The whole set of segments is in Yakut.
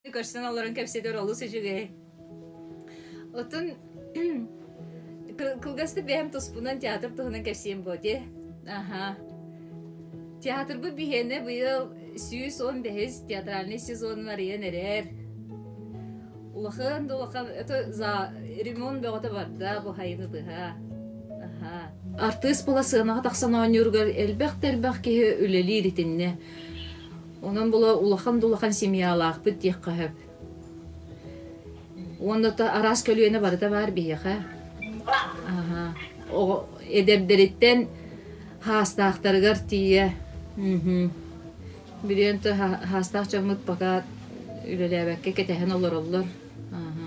көрсөн олорон кэпсэтэр олус үчүгэй отун кылгастык бэйэм туспунан театр туһунан кэпсиэм буоте аха театрбыт биһиэнэ быйыл сүүс он бэһис театральный сезонун арыйан эрэр улахан да улахан ремонт бөҕөтө барда бу хайыны тыһа артыыс була сыанаҕа тахсан оонньууругар элбэх да элбэх киһи үлэлиир итиннэ Онон була улахан-дулахан семьялаахпыт диэххэ сөп. Уонна то араас көлүөнэ барыта баар биһиэхэ. Аха. Оҕо эдэрдэриттэн хаастаахтарыгар тиийэ. Мм. Билиэн то хаастаах дьоммут пока үлэлээбэккэ кэтэһэн олороллор. Аха.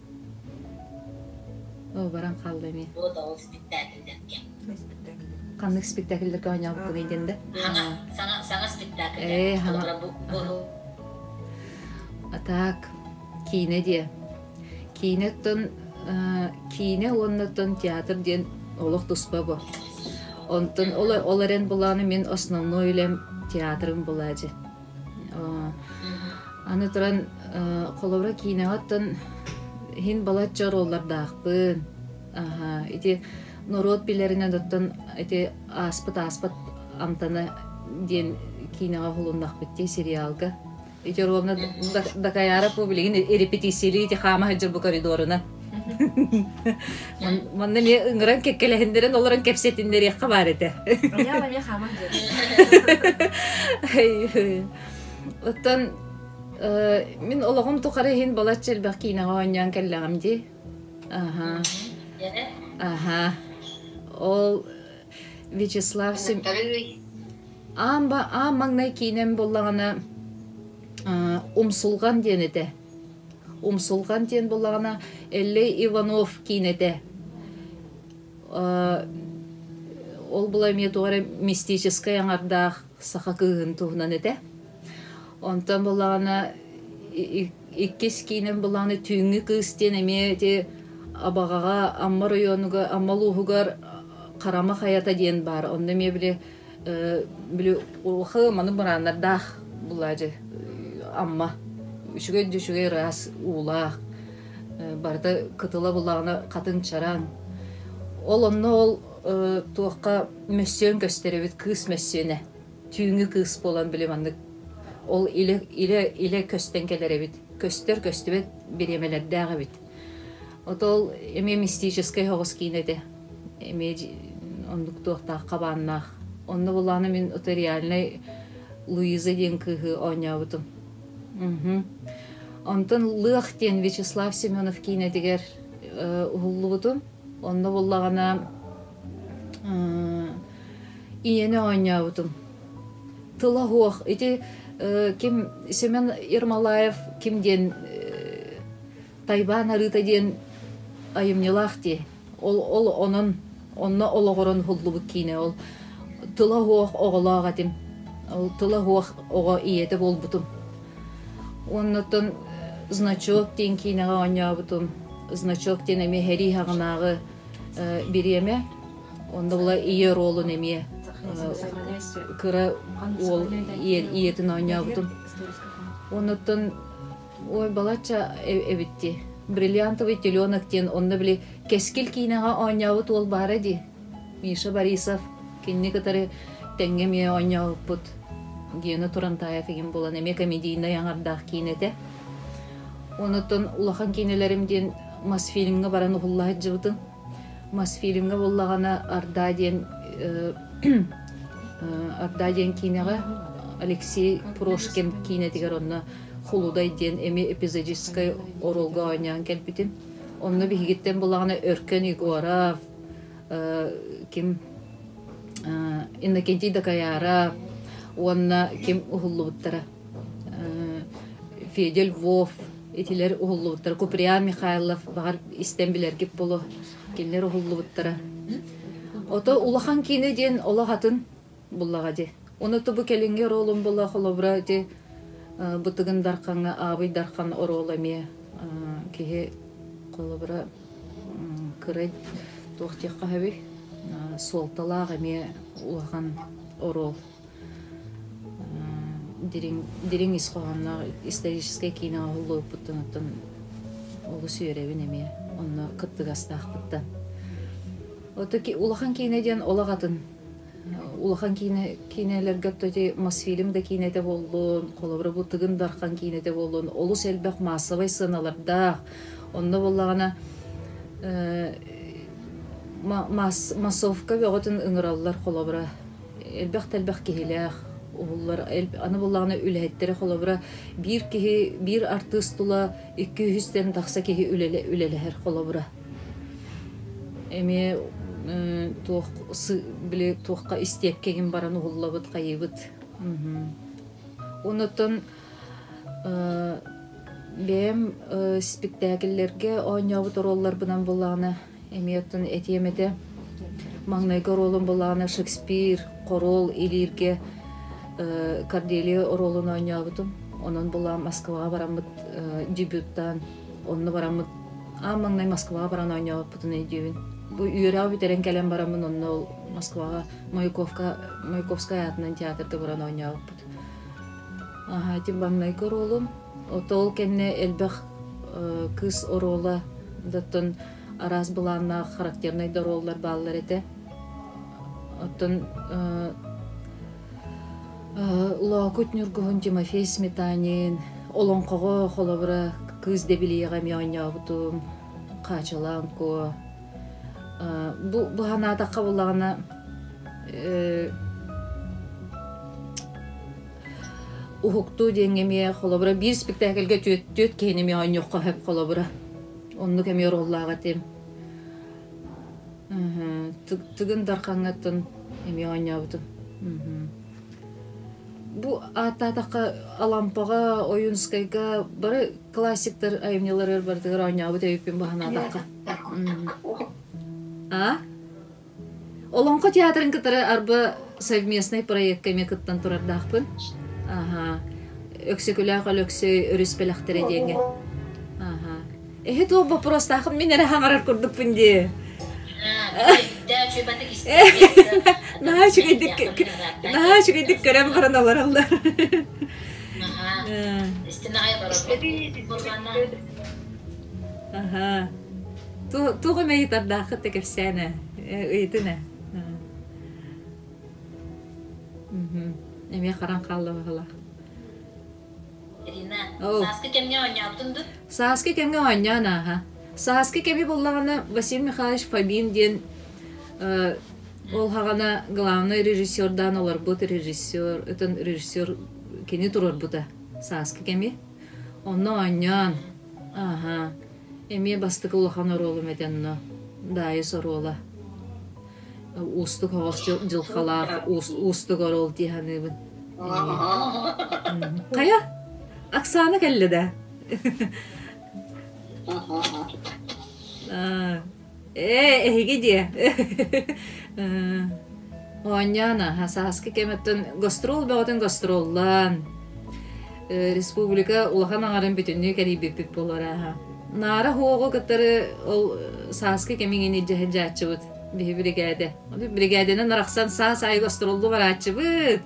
Оо, баран хаалла эмиэ. Вот ол спектакльдэргэ. Ханнык спектакльлэргэ оонньообуккунуй диэн да? Саҥа, саҥа, саҥа спектакль. Ээ, саҥа. А так, киинэ диэ. Киинэттэн киинэ уоннаттан театр диэн олох туспа бу. Онтон ол ол эрэн булааны мин основной үлэм театрым була дьи. аны туран холобура киинэҕиттэн иһин балачча оруоллардаахпын ити норуот билэринэн оттон ити ааспыт ааспыт амтана диэн киинэҕэ уһулуннахпыт дии сериалга ити оруолна дакаяра публигин репетициялыы ити хаама сылдьар бу коридорунан Манна эмиэ ыҥыран кэккэлэһиннэрэн олорон кэпсэтиннэриэххэ баар этэ. Оттон мин олоҕум тухары иһин балачча элбэх киинэҕэ оонньоон кэллэҕим дии. Аха. Аха. Ол Вячеслав Сим... Аан маҥнай киинэм буоллаҕына Умсулҕан диэн этэ. Умсулҕан диэн буллаҕына Эллэй Иванов киинэтэ. Ол була эмиэ туох эрэ мистическэй аҥардаах саха кыыһын туһунан этэ. Онтон буллаҕына иккис киинэм буллаҕына Түүҥҥү кыыс диэн эмиэ ити Абаҕаҕа Амма оройуонугар Амма улууһугар Харама хайата диэн баар. Онно эмиэ били били улахан маны бырааннардаах булаажы амма үчүгэй да үчүгэй ыраас уулаах барыта кытыла булаана хатын чараан ол онно ол туохха мөссүөн көстөрөбүт кыыс мөссүөнэ түүҥҥү кыыс буолан били маннык ол илэ илэ илэ көстөн кэлэр эбит көстөр көстүбэт бириэмэлэрдээх эбит отол эмиэ мистическэй хоҕус киинэ этэ эмиэ оннук туохтаах хабааннаах. Онно булаана мин утариальнай Луиза диэн кыыһы оонньообутум. Онтон Лыах диэн Вячеслав Семенов киинэтигэр уһуллубутум. Онно буллаҕына ийэни оонньообутум. Тыла хуох. Ити ким Семен Ермолаев ким диэн Тайбан арыыта диэн айымньылаах дии Ол онон онно олоҕуран уһуллубут киинэ ол тыла-уох оҕолоох этим, тыла-уох оҕо ийэтэ буолбутум. Оннуттан значок диэн киинэҕэ оонньообутум. Значок диэн эмиэ һэрии хаҕынааҕы бириэмэ. Онно була ийэ ролун эмиэ кыра уол ийэтин оонньообутум. Оннуттан Ой, балачча эбитти. Бриллиантовый теленок диэн онно били кэскил киинэҕэ оонньообут уол баара дии. Миша Борисов кинини кытары тэҥҥэ эмиэ оонньообуппут. Гена Турантаев игин булан эмиэ комедийнай аҥардаах киинэ этэ. Онуттан улахан киинэлэрим диэн Мосфильмҥа баран уһуллаһыддьыбытын Мосфильмҥа буллаҕына Орда диэн Орда диэн киинэҕэ Алексей Прошкин киинэтигэр онно Хулудай диэн эми эпизодическай оруолга оонньоон кэлбитим. Онно биһигиттэн булаҕына Өркөн Егоров, ким Иннокентий Дакаяра уонна ким уһуллубуттара. Федя Львов, итилэр уһуллубуттара, Куприян Михайлов, баҕар истэн билэргит боло, кинилэр уһуллубуттара. Ото улахан киинэ диэн олох атын буллаҕа ди. Оны тубу кэлинги оруолун бола холобура ди бытыгын дарханга аабый дархан оруол эмиэ киһи холобура кырай туох диэххэ хабый суолталаах эмиэ улахан оруол дириҥ дириҥ ис хоһоонноох историческай киинэҕэ уһуллубуппуттан оттон олус үөрэбин эмиэ онно кыттыгастаахпыттан ото улахан киинэ диэн олох атын улахан киинэ киинэлэргэ тоти мосфильм да киинэтэ буоллун холобура бу тыгын дархан киинэтэ буоллун олус элбэх маассабай сыаналардаах онно буоллаҕына массовка бөҕөтүн ыҥыраллар холобура элбэх да элбэх киһилээх уһуллар аны буоллаҕына үлэһиттэри холобура биир киһи биир артыыс тула икки үһүстэн тахса киһи үлэлэһэр холобура эмиэ туох били туохха истиэпкэгин баран уһуллабыт хайыыбыт онуттан бэйэм спектакльлэргэ оонньообут оруолларбынан буллаҕына эмиэ оттон этиэм этэ маҥнайгы оруолум буоллаҕына Шекспир хоруол илииргэ Корделия оруолун оонньообутум онон булаам Москваҕа бараммыт дебютаан онно бараммыт аан маҥнай Москваҕа баран оонньообуппутун өйдүүбүн бу үөрэх бүтэрэн кэлэн бараммын онно ол Москваҕа Маяковка Маяковскай аатынан театрга баран оонньообуппут ити маҥнайгы оруолум Ол кэннэ элбэх кыыс оруола оттон араас былааннаах характернай да оруоллар бааллар этэ. Оттон Лоокут Ньургуһун Тимофей Сметанин, олоҥхоҕо холобура кыыс дэбилийэҕэ эмиэ оонньообутум, Хаачалаан Куо. Бу бу санаатахха буоллаҕына Уһуктуу диэҥҥэ эмиэ холобура биир спектакльга түөрт, түөрт киһини эмиэ оонньуохха сөп холобура. Оннук эмиэ роллаах этим. Тыгын Дархаҥҥаттан эмиэ оонньообутум. Бу ааттаатахха Алампаҕа, Ойунскайга бары классиктар айымньыларыгар барытыгар оонньообут өйүппүн баһанаатахха. А? Олоҥхо театрын кытары арба совместнай проекка эмиэ кыттан турардаахпын. Аха. Өксөкүлээх Өлөксөй өрүс бэлэхтэрэ диэҥҥэ. Аха. Эһи туох боппуруостаахын мин эрэ хаҥарар курдукпун дии. Наһаа үчүгэйдик наһаа үчүгэйдик көрөн баран олороллор. Аха. Туох эмэ ыйытардааххыт да кэпсээн ээ, ыйытын ээ. эмиэ харан хаалла баҕалаах. Ирина, сааскы кэмҥэ оонньообутун дур? Сааскы кэмҥэ оонньоон ааһа. Сааскы кэми буллаҕына Василий Михайлович Фомин диэн ол хаҕана главнай режиссердаан олорбут режиссер, өтөн режиссер кини туруорбута сааскы кэми. Онно оонньоон, ааһа. Эмиэ бастакы улахан оруолум этэ онно Даайыс оруола. Уустук һовос дьылхалаах уустук оруол дии саныыбын. Хайа? Оксана кэллэ да? Ээ, эһиги диэ. Э, Оонньоон аһа, сааскы кэмиттэн гастрол бөҕөтүн гастроллаан, э, республика улахан аҥарын бүтүннүү кэрийбиппит буолара аһа. Наара Хуоҕу кытары ол э, сааскы кэмигин илдьэ сылдьааччыбыт, биһи биригээдэ. Ону биригээдэнэн арахсан саас аайы гастроллуу барааччыбыт.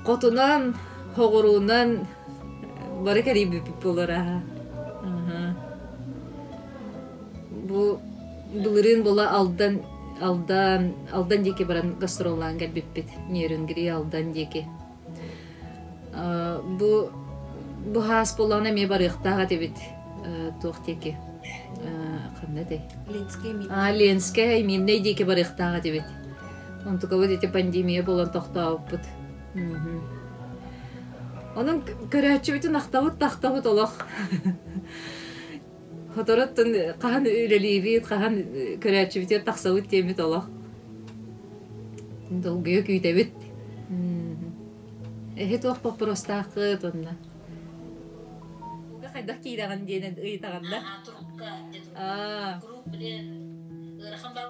Хотунан, хоҕуруунан бары кэрийбиппит буолара аһа. бу былырыын була алдан алдан алдан диэки баран гастроллаан кэлбиппит нерюнгри алдан диэки бу бу хаас боллоҕун эмиэ барыахтаах этибит туох диэки ханна тэй а ленская и миннэй диэки барыахтаах этибит онтукабыт ити пандемия болон тохтообуппут онон көрөөччүбүтүн ахтабыт тахтабыт олох Соторутун хаһан үлэлиибит, хаһан көрөөччүбүтүгэр тахсабыт диэммит олох. Долгуйа күүтэбит. Эһи туох боппуруостааххыт онно? Хайдах киирэҕин диэн ыйытаҕын да? турукка деді. Круг білен ырахан бал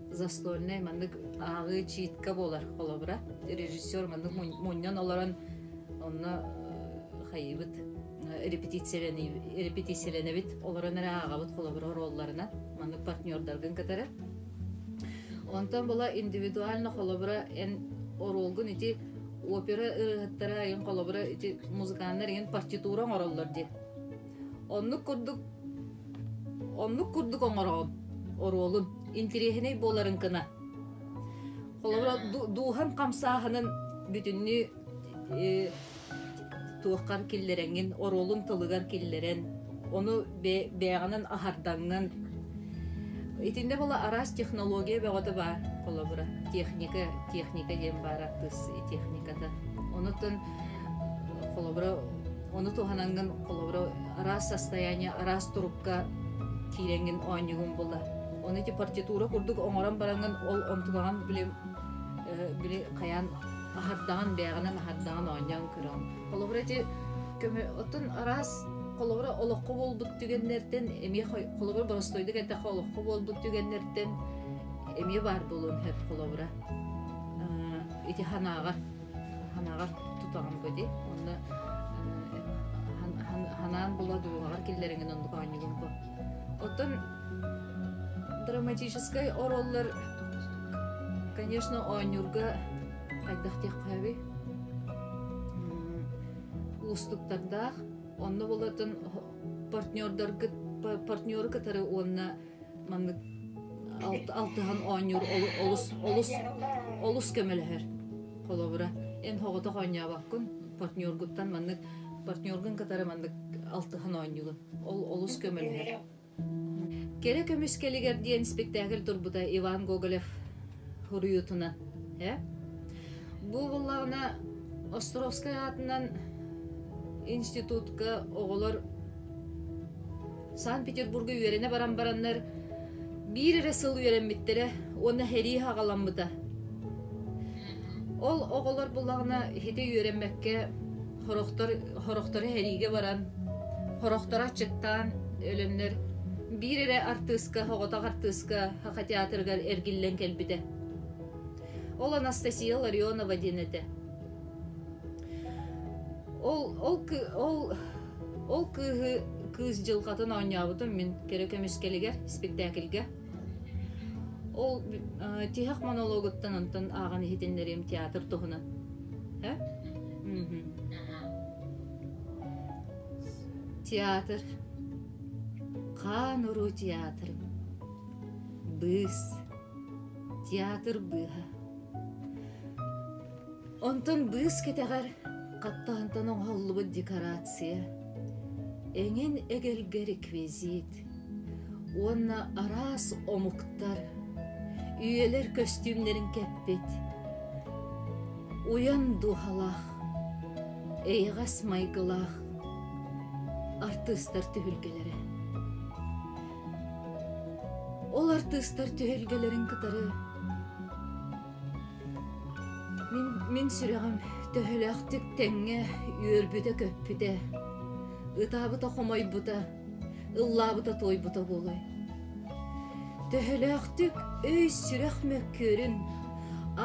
застольнай маннык ааҕыы чиитка буолар холобура режиссер маннык мунньан олорон онно хайыыбыт репетициялэнэбит олорон эрэ ааҕабыт холобура ролларынан маннык партнердаргын кытары онтон була индивидуально холобура эн оруолгун ити опера ырыаһыттара айын холобура ити музыканнар иһин партитура оҥороллор дии Оннук курдук оннук курдук оҥороом оруолун интириэһинэй буоларын кына. Холобура дууһаҥ хамсааһынын бүтүннүү э, туоххар киллэрэҥин оруолун тылыгар киллэрэн ону бэйэҕинэн аһардаҥҥын итиннэ бола араас технология бөҕөтө баар холобура техника техника диэн баар артыыс техниката онутун холобура Ону туһанаҥҥын холобура араас состояние, араас турукка киирэҥҥин оонньугун була. Ону ити партитура курдук оҥорон бараҥҥын ол онтулаҕан били били хайаан аһардаҕын бэҕэнэн аһардаҕын оонньоон көрөҕүн. Холобура ити көмө оттон араас холобура олоххо буолбут түгэннэртэн эмиэ холобура боростойдук эттэххэ олоххо буолбут түгэннэртэн эмиэ баар буолуон сөп холобура ити санааҕа ханаҕар тутаҕын көтү уонна ханаан була дулаҕар киллэриҥин оннук оонньугун ко оттон драматическай ороллор конечно оонньуурга хайдах диэххэби уустуктардаах онно болатын партнердаргыт партнеры кытары уонна маннык алтыһан оонньуур олус олус олус көмөлөһөр холобура эн хоҕотох оонньообоккун партнергуттан маннык партнергун кытары маннык алтыһан оонньугун ол олус көмөлөһөр кэрэ көмүс кэлигэр диэн спектакль турбута иван гоголев хуруйутунан э? бу буллаҕына островскай аатынан институтка оҕолор Санкт-Петербурга үөрэнэ баран бараннар биир эрэ сыл үөрэммиттэрэ уонна сэрии аҕаламмыта. Ол оҕолор булаҕына ити үөрэммэккэ хорохтор, хорохтору сэриигэ баран, хорохторо аччыктаан өлөннөр биир эрэ артыыска, оҕотох артыыска Хаха театрыгар эргиллэн кэлбитэ. Ол Анастасия Ларионова диэн этэ. Ол, ол, ол Ол кыыһы кыыс дьылҕатын оонньообутум мин кэрэ көмүскэлигэр, спектакльга. Ол тиһэх монологуттан онтон ааҕан иһитиннэриим театр туһунан. Һэ? Театр. Хаан уруу театрым. Быыс. Театр быыһа. Онтон быыс кэтэҕэр хаттаантан оҥоһуллубут декорация, эҥин эгэлгэ реквизит уонна араас омуктар, үйэлэр көстүүмнэрин кэппит уйан дууһалаах, эйэҕэс майгылаах артыыстар түһүлгэлэрэ. Ол артыыстар түһүлгэлэрин кытары Мин мин сүрэҕим төһөлөөхтүк тэҥҥэ үөрбүтэ-көппүтэ, ытаабыта-хомойбута, ыллаабыта-туойбута буолуой? Төһөлөөхтүк өй-сүрэх мөккүөрүн,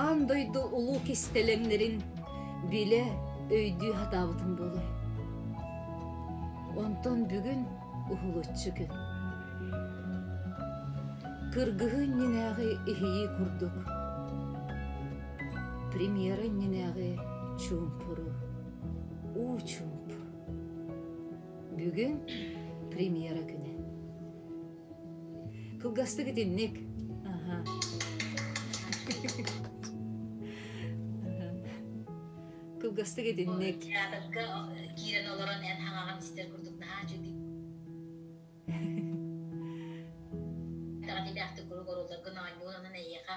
аан дойду улуу кистэлэҥнэрин билэ, өйдүү сатаабытым буолуой? Онтон бүгүн уһулуччу күн. Кыргыһыы иннинээҕи иһийии курдук. Премьера иннинээҕи чуумпуру. Уу чуумп. Бүгүн премьера күнэ. Кылгастык итинник. Аха. кылгастык итинник театрга киирэн олорон эн хаҥаҕын истэр курдук наһаа дьүдий даҕатыйдаахтык куруук оруолларгын оонньуун онон эйиэхэ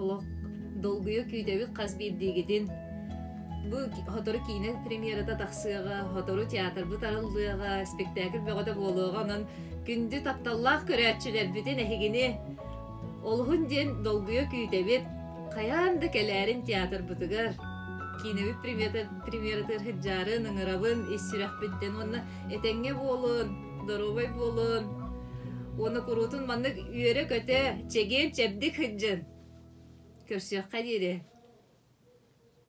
олох долгуйа күүтэбит хас биирдиигитин бу сотору киинэ премьерата тахсыаҕа сотору театрбыт арыллыаҕа спектакль бөҕөтө буолуоҕа онон күндү тапталлаах көрөөччүлэрбитин эһигини олуһун диэн долгуйа күүтэбит хайаан да кэлээрин театрбытыгар киинэбит премьерата премьератыгар сылдьарын ыҥырабын ис сүрэхпиттэн уонна этэҥҥэ буолун Доруобай буолун. Уона куруутун маннык үөрэ-көтө, чэгиэн-чэбдик сылдьын. Көрсүөххэ диэри.